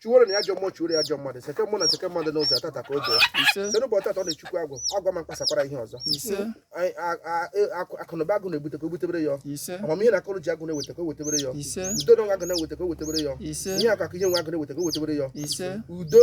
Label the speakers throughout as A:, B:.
A: chụwere nụ ya ajọ mmụọ chụwere ya ajọ mmadụ seke mmụọ na seke mmadụ n'ụzọ tata ka o doo site n'ụbọchị tata ọ na-echukwu agwụ agwa ma mkpasakwara ihe ọzọ Anyị- a- a- e- akụ- akụnụba agwụ na-ebute ka o butebere ya amamihe na akọnuche agwụ na-eweta ka o wetebere ya udo na nwa agwụ na-eweta ka o wetebere ya ihe akụ akụ ihe enwe agwụ na-eweta ka o wetebere ya udo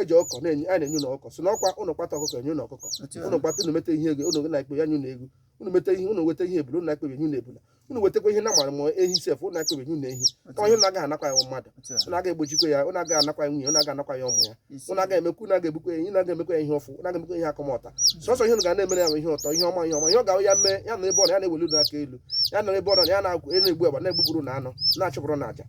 A: eji ọkụkọ na-enye a na-enye ụnụ ọkụkọ si na ọkwa ụnụ kpata ọkụkọ enye ụnụ ọkụkọ Otu a. ụnụ kpata ụnụ meta ihe ego ụnụ na-ekpe ya nye ụnụ ego ụnụ meta ihe ụnụ weta ihe ebula ụnụ na-ekpe enye ụnụ ebula ụnụ wetakwa ihe na mara ma ehi sef ụnụ na-ekpe enye ụnụ ehi Otu ọ ihe a. ụnụ agaghị anakwa ya mmadụ Otu a. ụnụ agaghị egbochikwa ya ụnụ agaghị anakwa ya nwunye ụnụ agaghị anakwa ya ụmụ ya Ise. ụnụ agaghị emekwa ụnụ agaghị egbukwa ya ihe ụnụ agaghị emekwa ya ihe ọfụ ụnụ agaghị emekwa ihe akọmọta sọsọ ihe ụnụ ga na-emere ya bụ ihe ụtọ ihe ọma ihe ọma ihe ọ ga ya mee ya na ebe ọ na ya na-eweli ụnụ aka elu ya na ebe ọ na ya na-egbu egbu agba na-egbuburu ụnụ anụ na-achụpụrụ ụnụ aja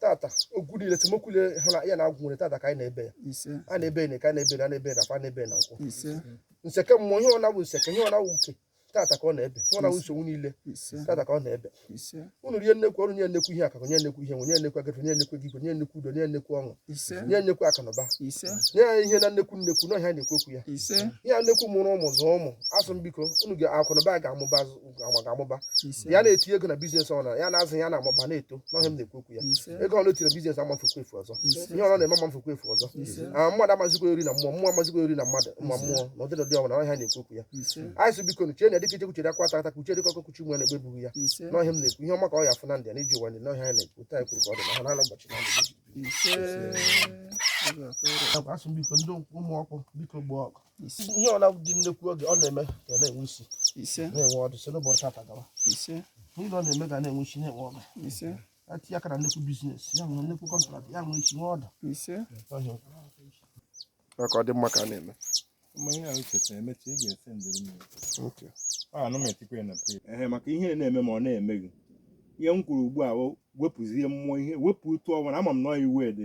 A: tata okwu niile esemokwu niile ha na ya na agwụ nwere tata ka anyị na-ebe ya ise a na-ebe n'eke a na-ebe na a na-ebe n'afọ a na-ebe na nkwọ ise nseke mmụọ ihe ọ na-awụ nseke ihe ọ na-awụ uke tata ka ọ na-ebe ihe ọ na-awụ nsogbu niile ise tata ka ọ na-ebe ise unu nye nnekwu ọrụ nye nnekwu ihe akụ akụ nye nnekwu ihe enwe nye nnekwu agafe nye nnekwu ego igwe nye nnekwu udo nye nnekwu ọṅụ ise nye nnekwu akụnụba ise nye ya ihe na nnekwu nnekwu na ọhịa na-ekwu okwu ya ise ihe a nnekwu mụrụ ụmụ zụọ ụmụ asị m biko unu ka akụnụba ga-amụba ga-amụba ya na-eti ego na biznes ọ na ya na-azụ ya na-amụba na-eto n'ọhịa m na-ekwu okwu ya ego ọ na-etiri biznes amafukwa efu ọzọ ihe ọ na-eme amafukwa efu ọzọ ah, mmadụ amazikwa ori na mmụọ mmụọ amazikwa ori na mmadụ ma mmụọ na ụdịdị dị ọbụla ọhịa na-ekwu okwu ya anyị sị biko nuchie na dịka icheoku chere akwa tata kuchie dịka ọkụkọ kuchi nwa na egbe ebughi ya n'ọhịa m na-ekwu ihe ọma ka ọ ya afụ na ndị a na-eji ụwa ndị n'ọhịa ya na-ekwu taa ekwuru ka ọ dị na ha na-anọ ụbọchị na asị biko ndị ụmụ ọkụ biko gbaa ọkụ ihe ọbụla dị nnekwu oge ọ na-eme ka na-enwe isi na-enwe ọdụ si n'ụbọchị taa gawa ihe ọ na-eme ga na-enwe isi na-enwe ọdụ atinye aka na nnekwu biznes ya nwere nnekwu kọntrakt ya nwere isi nwe ọdụ ka ọ dị mma ka a
B: na-eme ehe maka ihe na-eme ma ọ na-eme gị ihe m kwuru ugbu a wepụzie mmụọ iwe wepụ otu ọbụla ama m na iwe dị